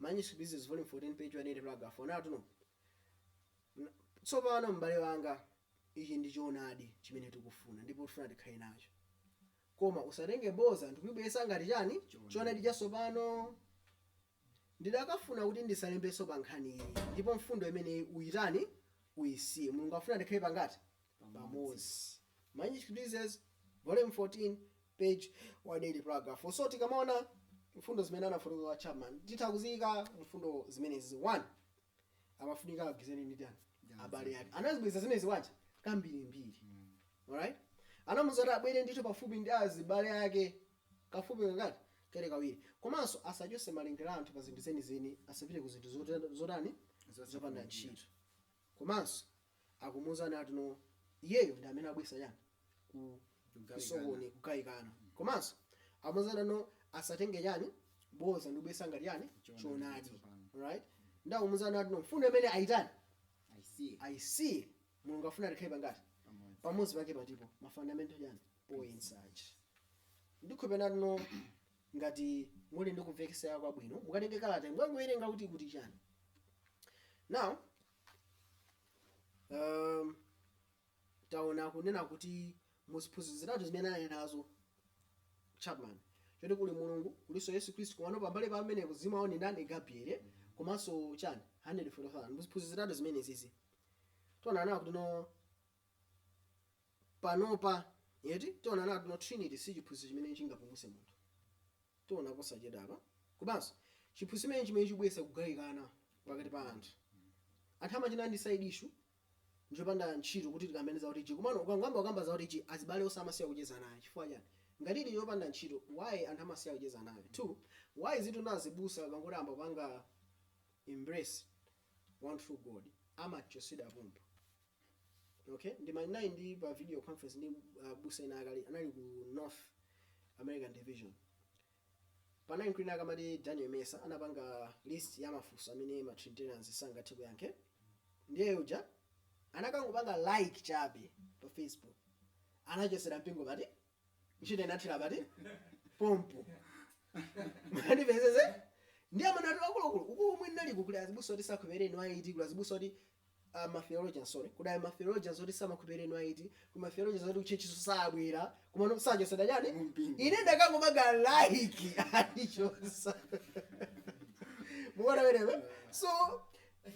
manuscript releases volume 14 page 180 paragraph 4 anati no tsopano m'bale wanga ichi ndi choonadi chimene tikufuna ndipo tifuna tikhale nacho koma usatenge boza ndikuyibweretsa ngati chani choonadi chatsopano Ndidakafuna kuti ndisalembenso pa nkhani iyi ndipo mfundo imeneyi uyitani? Uyisiye. Mulungu akufuna tikhale pangati? Pamodzi. Manuscript Releases, Volume 14, Page 180, Paragraph 4. So tikamaona mfundo zimene anafotokozeredwa Chapman titha kuziyika mfundo zimenezi 1. amafunika agwizane ndi ndani abale ake anazibwereza zimenezi wacha kambirimbiri alright anamuza kuti abwere ndithu pafupi ndi azibale ake kafupi kangati kale kawiri komanso asachose malingaliro a anthu pa zinthu zenizeni asapite ku zinthu zota- zotani zopanda ntchito komanso akumuuza ati no iyeyo ndi amene akubweretsa chani ku kusokoni kugawikana komanso amuuza ati no asatenge chani boza ndikubweretsa ngati chani choonadi right ndi akumuuza ati no mfundo imeneyi ayitani ayisiye mulungu afuna tikhale pangati pamodzi pake patipo ma fundamental chani points aja ndikhulupirira ati no ngati muli ndi kumvetsera kwabwino mukatenge kalata mukangowerenga kuti kuti chani now um, taona kunena kuti muziphunzitso zitatu zimene anali nazo chapman choti kuli mulungu kulinso yesu khristu komano pambali pamenepo mzimu woyera ndi ndani gabriele komanso chani 144,000 muziphunzitso zitatu zimenezizi taona kunena kuti no panopa, eti, taona kuti no trinity si chiphunzitso chimene chingapulumutse munthu, taona posachedwapa, komanso, chiphunzitso chimenechi n'chimene chikubweretsa kugawikana pakati pa anthu, anthu amati no ndi side issue, njopanda ntchito kuti tikambirane za OTG, komano ukangoyamba kukamba za OTG, azibale onse amasiya kucheza nawe, chifukwa chani? ngati ili yopanda ntchito, why anthu amasiya kucheza nawe, 2, why is it that azibusa akangoyamba kupanga embrace one true God, amachotsedwa pompo. Okay, ndima ndinali ndi pa video conference ndi abusa ena akale anali ku North American Division. Panali mkulu ena akamati Daniel Mesa anapanga list ya mafunso amene ma Trinitarians sangathe kuyankhe. Ndiye uja anakangopanga like chabe pa Facebook. Anachotsedwa mpingo pati ntchito inathera pati? Pompo Mwandipezetsa ndiye amene ati akuluakulu uku umwe ndinali kuli azibusa oti sakhulupirira ineyo ayi, kuli azibusa oti uh, matheologians sorry kuli ayi matheologians oti samakhulupirira ineyo ayi, kuli matheologians oti kuchechiso sabwera kumano sachosera chani Mumpingo. ine ndikangopanga like anichotsa muona wekha so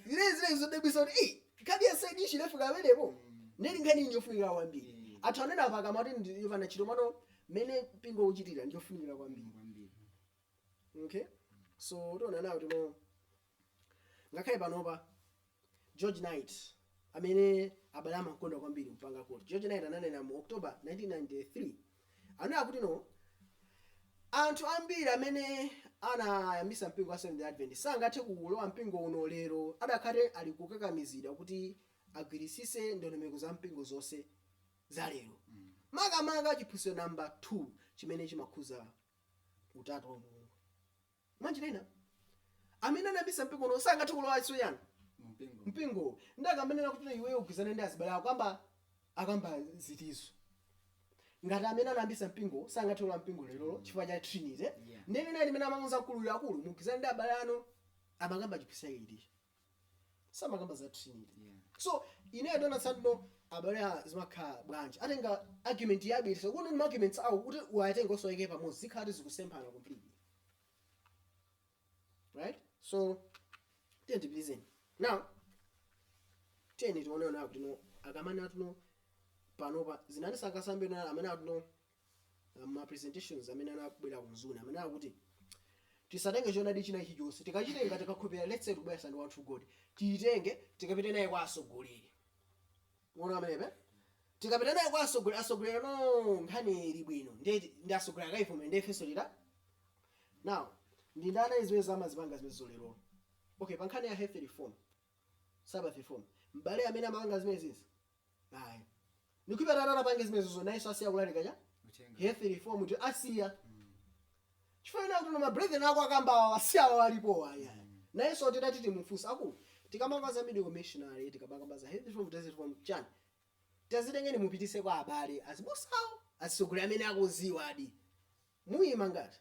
zilizili zodabwisa kuti "Ei, Nkhani ya side issue inafika pamenepo ndiye ndi nkhani njofunikira kwambiri anthu anena apa akamati ndi yopanda ntchito koma mmene mpingo ukuchitira ndiyofunikira kwambiri okay so tiona now kuti no ngakhale panopa George Knight amene abale amankonda kwambiri mpaka kuti George Knight ananena mu October 1993 Ananena kuti no Anthu ambiri amene anayambisa mpingo wa Seventh Day Adventist sangathe kulowa mpingo uno lero atakhala ali kukakamizidwa kuti agwiritse ndondomeko za mpingo zonse za lero makamaka chiphunzitso number 2 chimene chimakhuza utatu wa Mulungu. Mwanjira ina, amene anayambitsa mpingo uno sangathe kulowanso chani? Mpingo. Mpingowo. Ndiye akamanena kuti iweyo ugwirizane ndi azibale ako, akamba, akamba zitizo? Ngati amene anayambitsa mpingowo sangathe kulowa mpingo lerolo chifukwa cha Trinity, Yeah. ndiye nthawi imene amamuuza mkuluyo, akulu, mugwirizane ndi abale anu, amakamba chiphunzitso chake chiticho? samakamba za trinity Yeah. so ine ndaona tsano abale zimakhala bwanji utatenga argument yabweretsa kuno ni arguments awo kuti uwatenge uwasonkhe pamodzi zikhala kuti zikusemphana completely right so tiyeni tipitirize now tiyeni tione ona kuti no akamanena kuti no panopa zinani sangatsate no amanena kuti no ma presentations amene anabwera ku Mzuni amene akuti tisatenge choonadi china chilichonse tikachitenga tikakhulupirira let's say tikubweretsa One True God tiyitenge tikapite nayo kwa atsogoleri muona pamenepe tikapita nayo kwa atsogoleri atsogoleri no nkhani ili bwino ndiye ndiye atsogoleri akayivomera ndiye ifenso tita now ndi ndani zimenezo amazipanga zimenezo lero okay pa nkhani ya health reform sabbath reform m'bale amene amapanga zimenezizi ayi ndikupempha tatapange zimenezozo nayenso asiya kulalika cha Uthenga. health reform kuti asiya chifukwa anena kuti ma brethren ako akamba awa asiya awa alipo aya nayenso titati timufunse akulu tikamakamba za medical missionary tikamakamba za health reform dress reform chani tazitengeni mupititse kwa abale azibusawo azisogoleri amene akudziwadi muyima ngati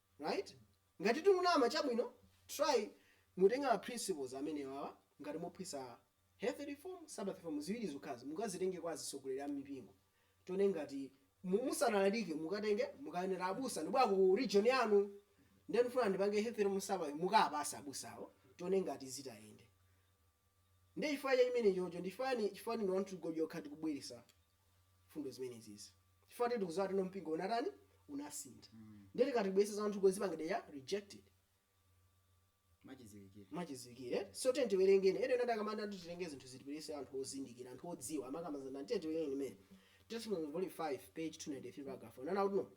right ngati tikunama chabwino try mutenge ma principles amenewawa ngati muphunzitsa health reform, Sabbath reform ziwiri zokhazi mukazitenge kwa azisogoleri a mmipingo tione ngati mu musanalalike mukatenge mukanene abusa ndibwera ku region yanu nde ndifuna ndipange health reform, Sabbath mukawapase abusawo tione ngati ziyende nde chifukwa cha chimenechocho ndi chifukwa chani chifukwa ndi One True God yo yokha tikubweresa mfundo zimenezizi chifukwa tili tikuziwa kuti no mpingo unatani unasintha ndiye tikati tibwese za anthu kozipangidwa ya rejected machidziwikire mwachidziwikire so tiyeni tiwerenge ena amati akamati kuti titenge zinthu zipitise anthu ozindikira anthu odziwa amakamba za ndani tiyeni tiwerenge ndime testimony volume 5 page 293 paragraph ananena kuti no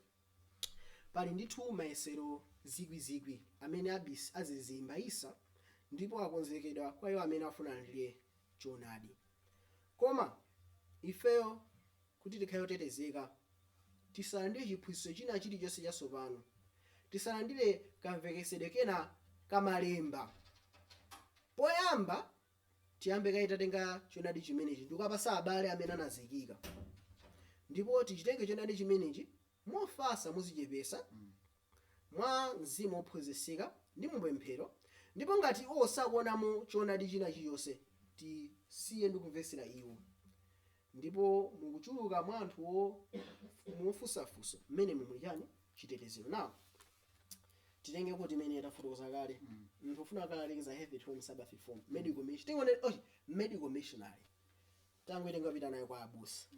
pali ndithu mayesero zikwizikwi amene abis azizimbaitsa ndipo akonzekedwa kwa iwo amene afuna alandire choonadi Koma, ifeyo, kuti tikhale otetezeka, tisalandire chiphunzitso china chilichonse chatsopano, tisalandire kamvetsetsedwe kena ka malemba, poyamba tiyambe kaye tatenga choonadi chimenechi ndikukapatsa abale amene anazikika, ndipo tichitenge choonadi chimenechi mofatsa, modzichepetsa, mwa mzimu wophunzitsika, ndi mu pemphero, ndipo ngati iwo sakuwonamo Choonadi china chirichonse, tisiye ndi kumvetsera iwo. Ndipo mu kuchuluka mwa anthu ofunsafunsa, mmenemo muli chani? Chitetezero. Now, titengeko ndime imene tafotokoza kale, munthu wofuna kukalalikira za health reform, Sabbath Reform, medical miss, tingotenga, oh, medical missionary, tingoitenga kupita nayo kwa abusa.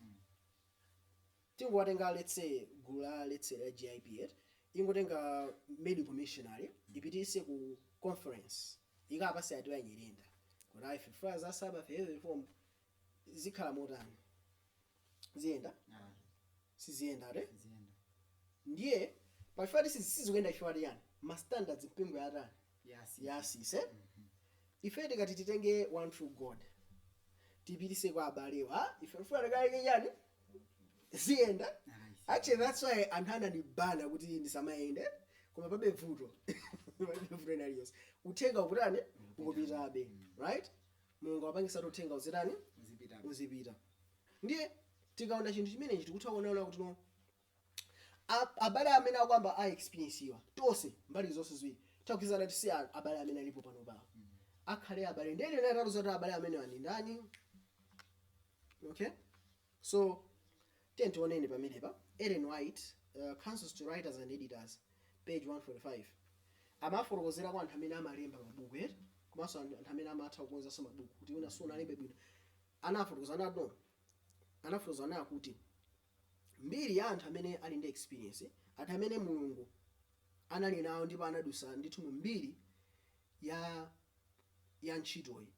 tingowatenga let's say gulu la let's say la GIP eti ingotenga medical missionary ipitise ku conference ikapase a Tiwa nyirenda kuti ife tifuna za Sabbath reform zikhala motani ziyenda Ah, siziyenda eti ziyenda. ndiye pachifukwa choti sizikuyenda chifukwa chiyani ma standards mpingo yatani yatsitsidwa ife tikati titenge one true god tipitise kwa abalewa ife tifuna tikalalike chani ziyenda actually that's why anthu anandibana kuti ndisamayende koma palibe vuto palibe vuto ina liyonse uthenga ukutani ukupitabe right mulungu apangisa kuti uthenga uzitani uzipita ndiye tikaona chinthu chimenechi tikutha kuona kuti no A- abale amene akukamba a experience wa tonse mbali zonse ziwiri tagwirizana kuti si a- abale amene alipo pano pawo akhale abale ndiye angatiuze kuti abale amene wa ndi ndani okay so tiyeni tione pamenepa ellen white uh, counsels to writers and editors page 145 amafotokozera kwa anthu amene amalemba mabuku eti komanso anthu anthu amene amatha kukonzanso mabuku kuti wina sunalembe bwino anafotokoza anadon anafotokoza anakuti mbiri ya anthu amene ali ndi experience anthu amene mulungu anali nawo ndipo anadusa ndithu mu mbiri ya ya ntchitoyi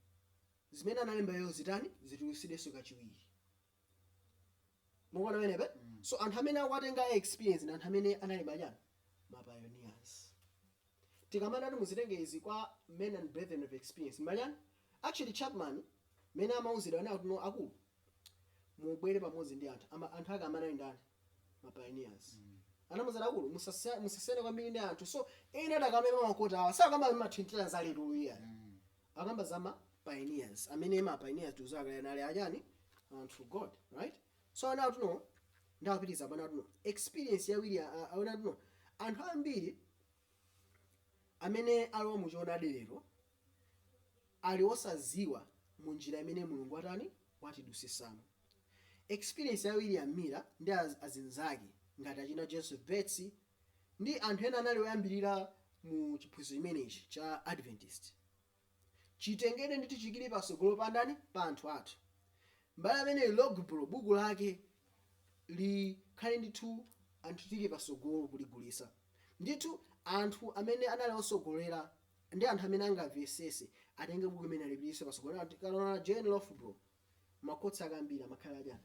zimene analemba iwo zitani zitulusidwenso kachiwiri mukuona pamenepa so anthu amene akuwatenga a experience ndi anthu amene anali machani mapioneers tikamati kuti muzitenge izi kwa men and brethren of experience machani actually chapman mene amauzidwa ana akuno akulu mubwere pamodzi ndi anthu ama anthu ake amene ali ndani ma pioneers anamuzana akulu musasiya- musasiyane kwambiri ndi anthu so ena adakamba pa makota awa sakamba mathintira za lero luya akamba za ma pioneers amene ma pioneers tuzakale anali achani anthu god right so ana athuno ndawapitiza pana athuno experience yawiri aona athuno anthu ambiri amene alowa mu choonadi lero ali osaziwa mu njira imene Mulungu watani watidutsitsamo. Experience ya William Miller ndi azinzake ngati achina Joseph Bates ndi anthu ena anali oyambilira mu chiphunzitso chimenechi cha Adventist. chitengedwe ndi tichiyike patsogolo pa ndani? pa anthu athu. M'bale ameneyu Loughborough buku lake likhale ndithu anthu tiyike patsogolo kuligulitsa. Ndithu anthu amene anali otsogolera ndi anthu amene angamvetsetse atenge buku limeneli alipititse patsogolo. Tikanaona JN Loughborough makhoti ake ambiri amakhala achani?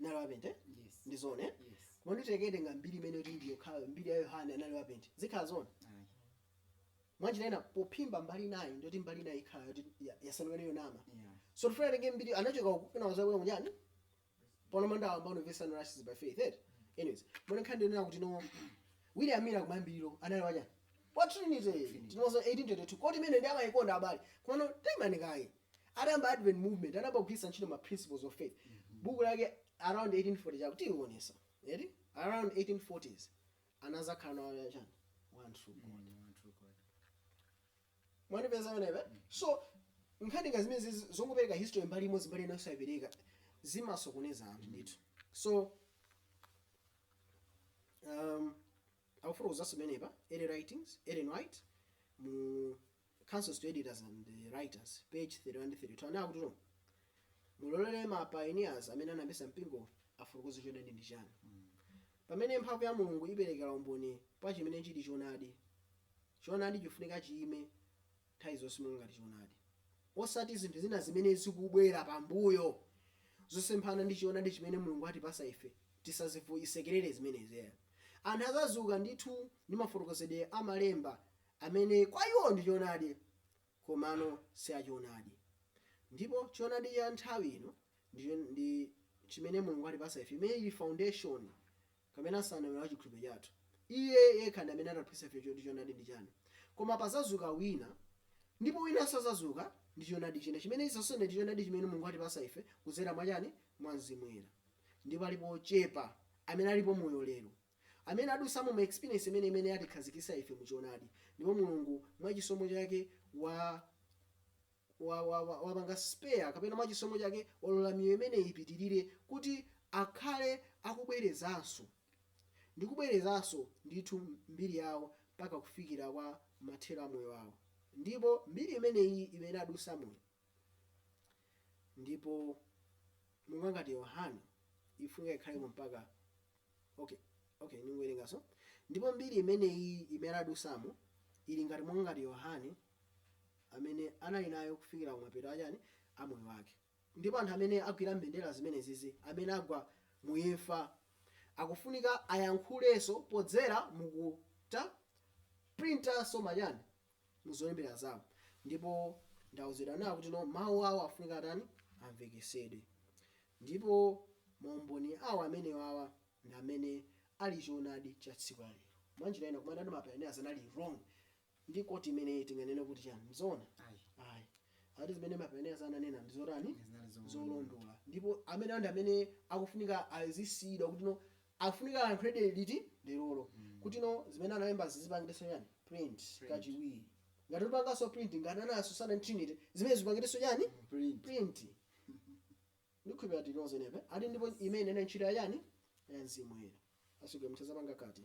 anali wapente yes ndi zoona eh? yes koma ndikatenga mbiri imeneyi kuti ndi yokhayo mbiri ya yohane anali wapente zikhala zoona ayi mwanjira ina pophimba mbali inayi ndi kuti mbali inayi ikhala yoti ya- yasanduka yonama yeah so tifuna atenge mbiri anachoka uku kena nazabwera ku chani pano manda ayamba kumvetsa no righteousness by faith eh? anyways mwina nkhani ndinena kuti no william miller kumayambiriro anali wachani wa trinity tinozo 1822 quote imene amayikonda abale koma no taimani kaye atayamba Advent Movement, anayamba kugwiritsa ntchito ma Principles of Faith. Buku lake around 1840 chakuti tiliwonesa. Eti? Around 1840s anazakhala nawo ya chani? One true God. Mm, one true God. Mwandipeza whenever. Mm. So nkhani ngati zimenezi zongopereka history mbali imodzi mbali ina osayipereka zimasokoneza anthu ndithu. So um, akufuna kuuzanso pamenepa early writings Ellen White mu Counsels to Editors and Writers, page 31 ndi 32, anena kuti, Mulolere ma pioneers amene anayambitsa mpingo afotokoze choonadi ndi chiyani. Pamene mphamvu ya Mulungu iperekera umboni pa chimene chili choonadi, choonadi chifunika chiime nthawi zonse monga ngati choonadi, osati zinthu zina zimene zikubwera pambuyo zosemphana ndi choonadi chimene Mulungu watipatsa ife tisazisekelere zimenezi. Anthu azazuka ndithu ndi mafotokozedwe a malemba amene kwa iwo ndi choonadi komano si a choonadi. Ndipo choonadi cha nthawi ino ndi, ndi chimene Mulungu atipasa ife, imene ili foundation kapena nsanamira wa chikhulupiriro chathu. Iye yekha ndi amene atipasa ife choti choonadi ndi chani. Koma pazazuka wina, ndipo winanso azazuka ndi choonadi china, chimene chizatsutsane ndi choonadi chimene Mulungu atipasa ife kudzera mwa chani? Mwa Mzimu Woyera. Ndipo alipo ochepa amene alipo moyo lero. Amene adusamo ma experience imene imene atikhazikisa ife mu choonadi, ndipo Mulungu mwa chisomo chake wa wa wa wa wapanga spare kapena mwa chisomo chake walola miyoyo imeneyi ipitilire kuti akhale akubwerezanso ndi kubwerezanso ndithu mbiri yawo mpaka kufikira kwa mathero a moyo wawo. Ndipo mbiri imeneyi imene adusamoyi. Ndipo monga ngati Yohane ifunika ikhalemo mpaka Okay, okay, ningowerenganso. Ndipo mbiri imene iyi imene adusamo ili ngati monga ngati Yohane amene anali nayo kufikira kumapeto achani a moyo wake. Ndipo anthu amene agwira mbendera zimenezizi amene agwa mu imfa akufunika ayankhulenso podzera mu kuta printanso machani muzolembera zawo ndipo ndauzidwa nawo kuti no mawu awo afunika atani amvekesedwe ndipo maumboni awo amenewawa ndi amene ali choonadi cha tsiku la lero mwanjira ina kumanena kuti mapayoniyaz anali wrong ndi koti imeneyi tinganene kuti chani mzoona Ayi. ayi ati zimene mapayoniyaz ananena ndi zotani Zinali zoona. zolondola ndipo amene ndi amene akufunika azisiyidwa kuti no Afunika alankhulebe liti? Lerolo. Kuti no zimene analembazi zipangidwenso chani? Print kachiwiri. Ngati upanganso print ngati ananso za Trinity, zimenezi zipangidwenso chani? Print. Ndikhulupira tili limodzi pamenepo. Ati ndipo imene inali ntchito ya chani? Ya Mzimu Woyera. Asogolera mutha zapanga kati?